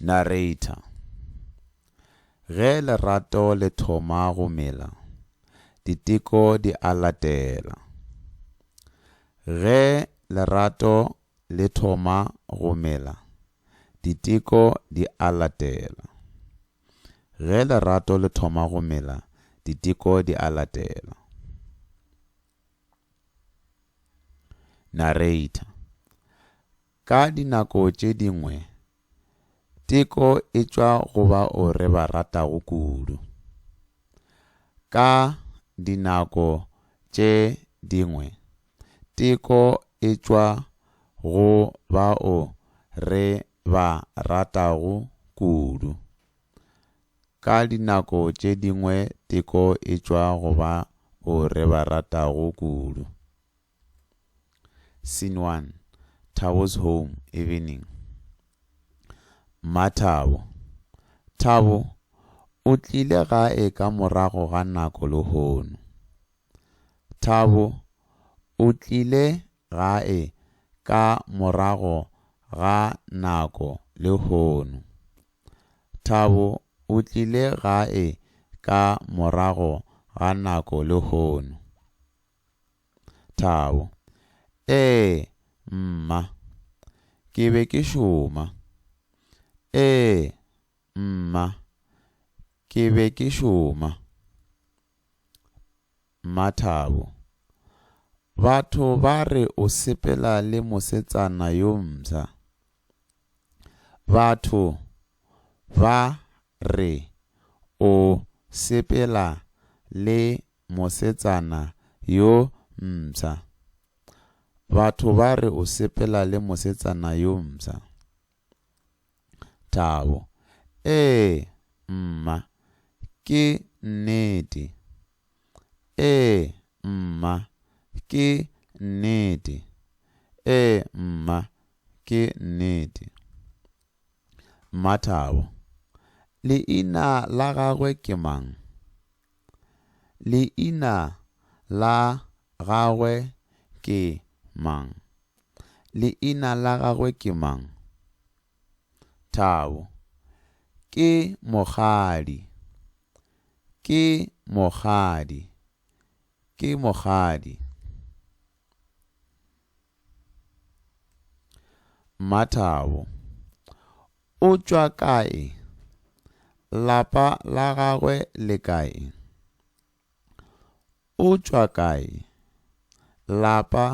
Narrator, Ge lerato le thoma go mela, diteko di a latela. Ge lerato le thoma go mela, diteko di a latela. Ge lerato le thoma go mela, diteko di a latela. Narrator, Ka dinako tše dingwe, teko e tšwa go bao re ba ratago kudu. Ka dinako tše dingwe, teko e tšwa go bao re ba ratago kudu. Ka dinako tše dingwe teko e tšwa go bao re ba ratago kudu. Scene 1, Thabo's home, evening. Mmathabo. Thabo, o tlile gae ka morago ga nako lehono. Thabo, o tlile gae ka morago ga nako lehono. Thabo, o tlile gae ka morago ga nako lehono. Thabo, Ee, mma. Ke be ke šoma. Ee, mma. Ke be ke šoma. Mmathabo, Batho ba re o sepela le mosetsana yo msa. Batho ba re o sepela le mosetsana yo mpsha. Batho ba re o sepela le mosetsana yo mpsha. Thabo, Ee, mma, ke nnete. Ee, mma, ke nnete. Ee, mma, ke nnete. Mmathabo, Leina la gagwe ke mang? Leina la gagwe ke mang? Leina la gagwe ke mang? Thabo, Ke mokgadi. Ke mokgadi. Ke mokgadi. Mmathabo, O tšwa kae? Lapa la gagwe le kae? O tšwa kae? Lapa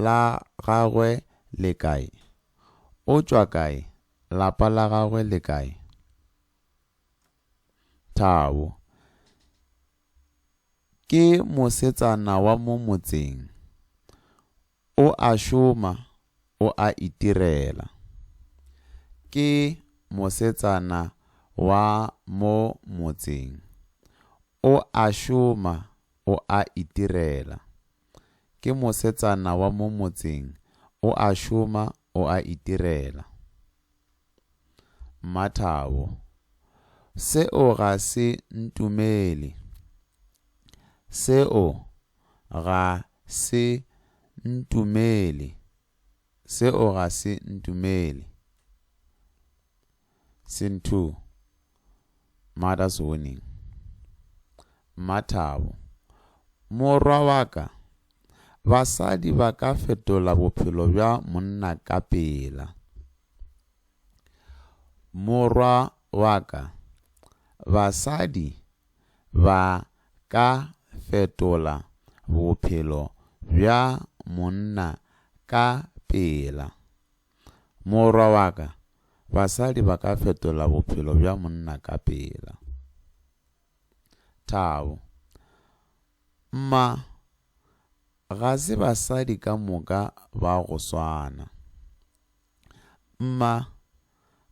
la gagwe le kae? O tšwa kae? Lapa la gagwe le kae? Thabo, Ke mosetsana wa mo motseng. O a šoma, o a itirela. Ke mosetsana wa mo motseng. O a šoma, o a itirela. Ke mosetsana wa mo motseng. O a šoma, o a itirela. Mmathabo, Seo ga se ntumele. Seo ga se ntumele. Seo ga se ntumele. Scene 2. Mother's Warning, Mmathabo, Morwa wa ka, basadi ba ka fetola bophelo bja monna ka pela. Morwa wa ka, basadi ba ka fetola bophelo bja monna ka pela. Morwa wa ka, basadi ba ka fetola bophelo bja monna ka pela. Thabo, Mma, ga se basadi ka moka ba go swana. Mma,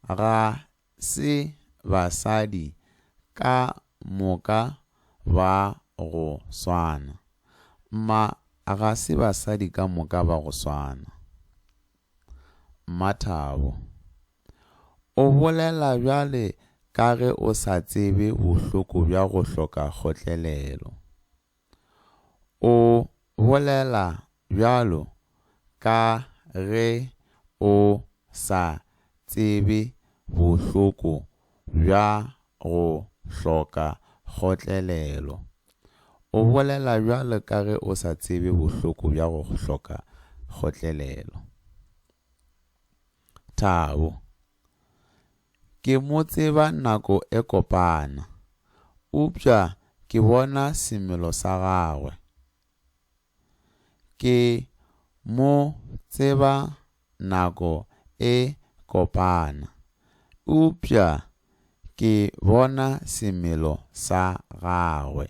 Ga se basadi ka moka ba go swana. Mma ga se basadi ka moka ba go swana. Mmathabo, O bolela bjale ka ge o sa tsebe bohloko bja go hloka kgotlelelo. O bolela bjalo ka ge o sa tsebe bohloko bja go hloka kgotlelelo. O bolela bjalo ka ge o sa tsebe bohloko bja go hloka kgotlelelo. Thabo. Ke mo tseba nako e kopana. Upša ke bona semelo sa gagwe. Ke mo tseba nako e kopana. Upša ke bona semelo sa gagwe.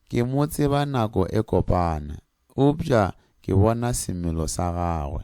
Ke mo tseba nako e kopana. Upša ke bona semelo sa gagwe.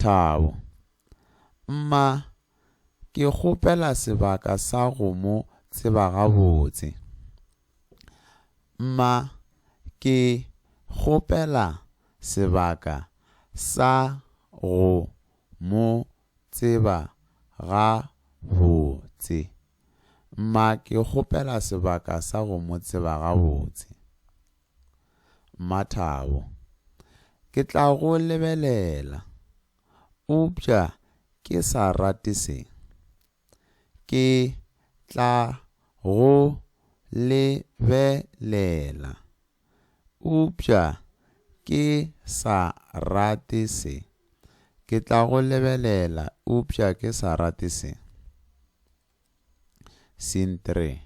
Thabo, Mma, ke kgopela sebaka sa go mo tseba gabotse. Mma, Ke kgopela sebaka sa go mo tseba gabotse. Mma, Ke kgopela sebaka sa go mo tseba gabotse. Mmathabo, Ke tla go lebelela. Eupša ke sa rate se. Ke tla go lebelela. Eupša ke sa rate se. Ke tla go lebelela eupša ke sa rate se. Scene 3,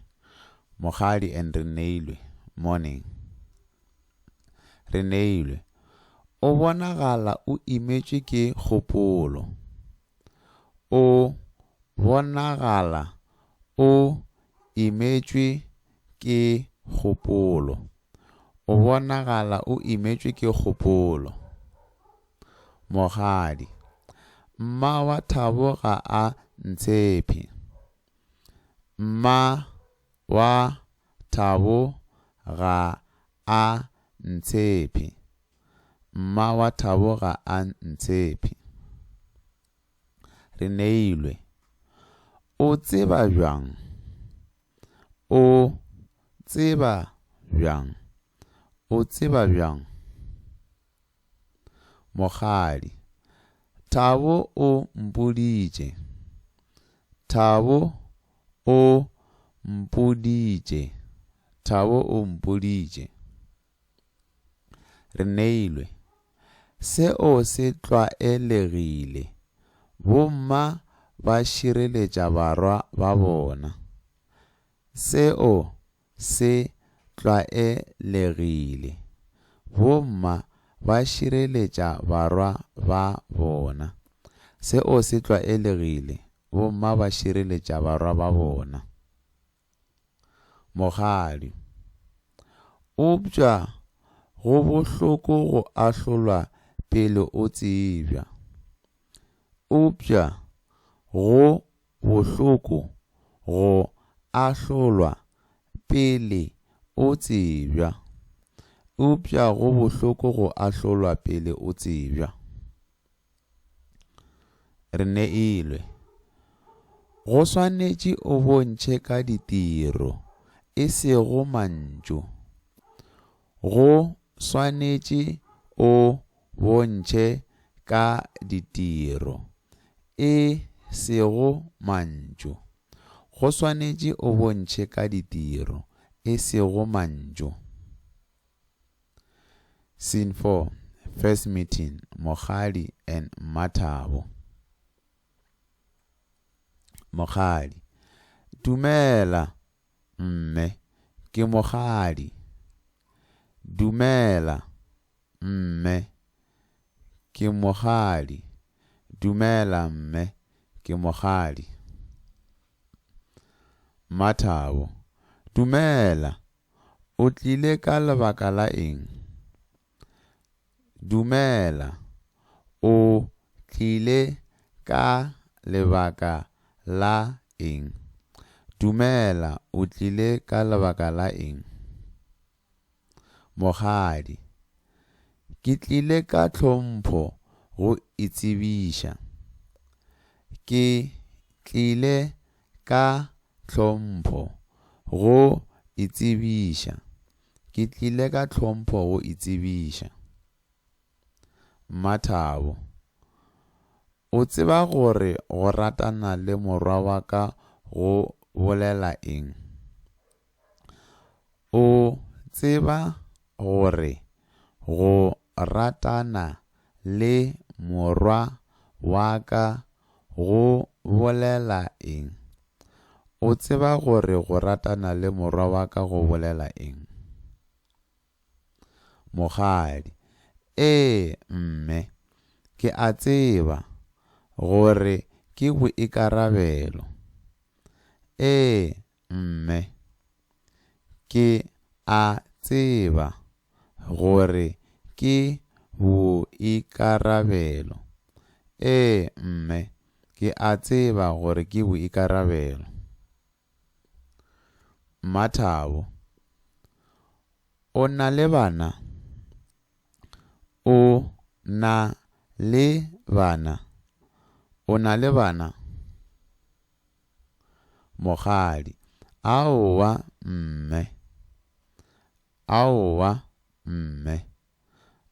Mokgadi and Reneilwe, Morning, Reneilwe, O bonagala o imetšwe ke kgopolo. O bonagala o imetšwe ke kgopolo. O bonagala o imetšwe ke kgopolo. Mogadi, Mma wa Thabo ga a ntshephe. Mma wa Thabo ga a ntshephe. Mma wa Thabo ga a ntshephe. Reneilwe, O tseba bjang? O tseba bjang? O tseba bjang? Mokgadi, Thabo o mpoditše. Thabo o mpoditše. Thabo o mpoditše. Reneilwe, Seo se tlwaelegile. Bomma ba šireletša barwa ba bona. Seo se tlwaelegile. Bomma ba šireletša barwa ba bona. Seo se tlwaelegile, bomma ba šireletša barwa ba bona. Mokgadi. Eupša go bohloko go ahlolwa pele o tsebja. Eupša go Bohloko go ahlolwa pele o tsebja. Eupša go bohloko go ahlolwa pele o tsebja. Re neilwe. Go swanetše o bontšhe ka ditiro, e sego mantšu. Go swanetše o bontšhe ka ditiro, e sego mantšu. Go swanetše o bontšhe ka ditiro, e sego mantšu. Scene 4, First meeting, Mokgadi and Mmathabo. Mokgadi, Dumela, Mme, ke mokgadi. Dumela, mme, ke mokgadi. Dumela, mme, ke mokgadi. Mmathabo, Dumela, o tlile ka lebaka la eng? Dumela, o tlile ka lebaka la eng? Dumela, o tlile ka lebaka la eng? Mokgadi, Ke tlile ka tlhompho go itsebiša. Ke tlile ka tlhompho go itsebiša. Ke tlile ka tlhompho go itsebiša. Mmathabo, O tseba gore go ratana le morwa wa ka go bolela eng? O tseba gore go ratana le morwa wa ka go bolela eng? O tseba gore go ratana le morwa wa ka go bolela eng? Mokgadi, Ee, mme. Ke a tseba gore ke boikarabelo. Ee, Mme, ke a tseba gore ke boikarabelo. Ee, mme, ke a tseba gore ke boikarabelo. Mmathabo, O na le bana? O na le bana? O na le bana? Mokgadi, Aowa, mme. Aowa, mme.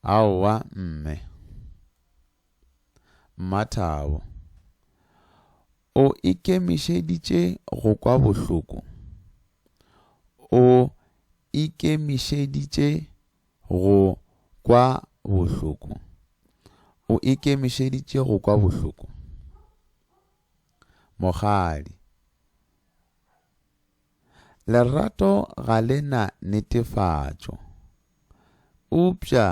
Aowa, mme. Mmathabo, O ikemišeditše go kwa bohloko? O ikemišeditše go kwa bohloko? O ikemišeditše go kwa bohloko? Mogadi, Lerato ga le na netefatšo, eupša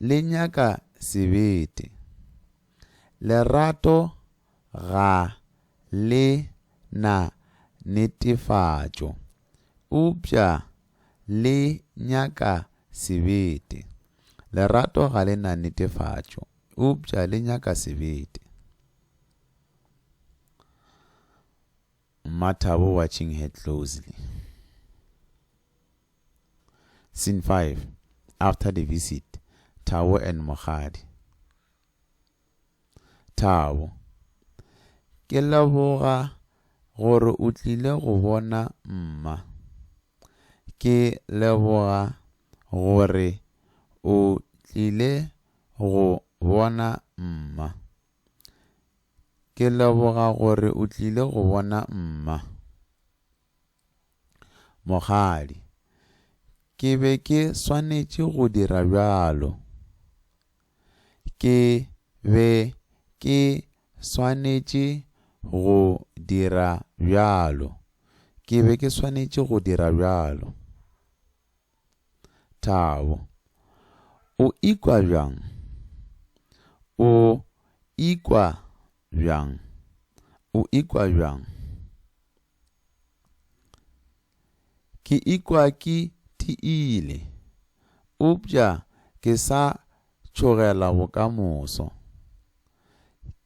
le nyaka sebete. Lerato ga le na netefatšo, eupša le nyaka sebete. Lerato ga le na netefatšo, eupša le nyaka sebete. Mmathabo watching her closely. Scene 5. After the visit, Thabo and Mogadi. Thabo. Ke leboga gore o tlile go bona mma. Ke leboga gore o tlile go bona mma. Ke leboga gore o tlile go bona mma. Mokgadi, Ke be ke swanetše go dira bjalo. Ke be ke swanetše go dira bjalo. Ke be ke swanetše go dira bjalo. Thabo, O ikwa bjang? O ikwa bjang? O ikwa bjang? Ke ikwa ke tiile, eupša ke sa tšhogela bokamoso.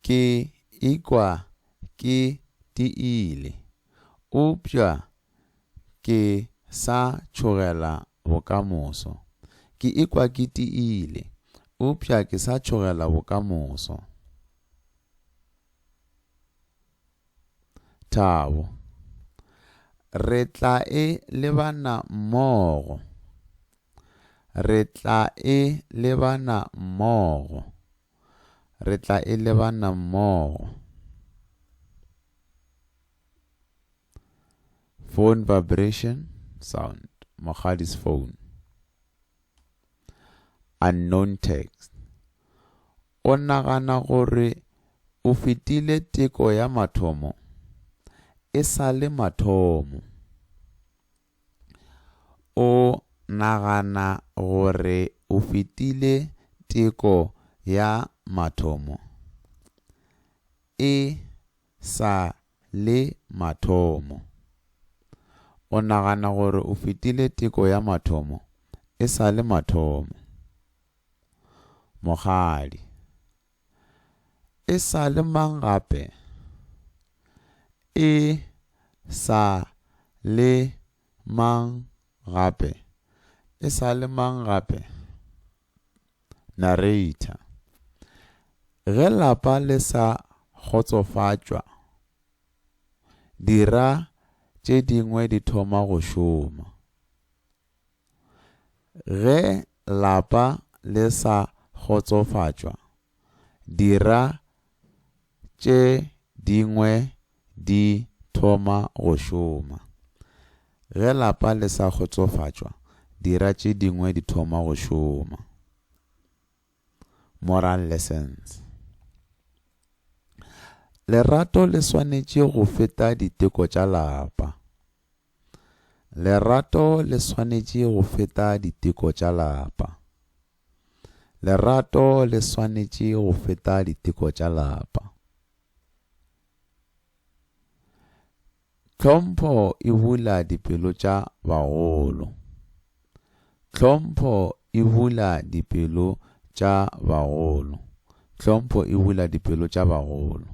Ke ikwa ke tiile, eupša Ke sa tšhogela bokamoso. Ke ikwa ke tiile. Eupša ke sa tšhogela bokamoso. Thabo. Re tla e lebana mmogo. Re tla e lebana mmogo. Re tla e lebana mmogo. Phone vibration, sound. Mogadis phone. Unknown text. O nagana gore o fetile teko ya mathomo e sa le mathomo. O nagana gore o fetile teko ya mathomo e sa le mathomo. O nagana gore o fetile teko ya mathomo e sa le mathomo. Mogadi, E sa le mang gape? E sa le mang gape? E sa le mang gape? Narrator, Ge lapa le sa kgotsofatšwa, dira tše dingwe di thoma go šoma. Ge lapa le sa kgotsofatšwa. dira tše dingwe di thoma go šoma. Ge lapa le sa kgotsofatšwa, dira tše dingwe di thoma go šoma. Moral lessons. Lerato le swanetše go feta diteko tša lapa. Lerato le swanetše go feta diteko tša lapa. Lerato le swanetše go feta diteko tša lapa. Tlhompho e bula dipelo tša bagolo. Tlhompho e bula dipelo tša bagolo. Tlhompho e bula dipelo tša bagolo.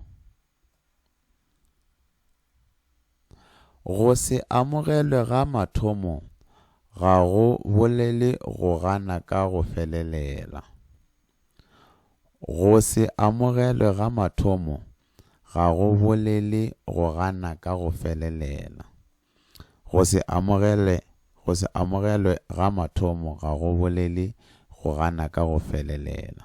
Go se amogelwe ga mathomo ga go bolele go gana ka go felelela. Go se amogelwe ga mathomo ga go bolele go gana ka go felelela. Go se amogele go se amogelwe ga mathomo ga go bolele go gana ka go felelela.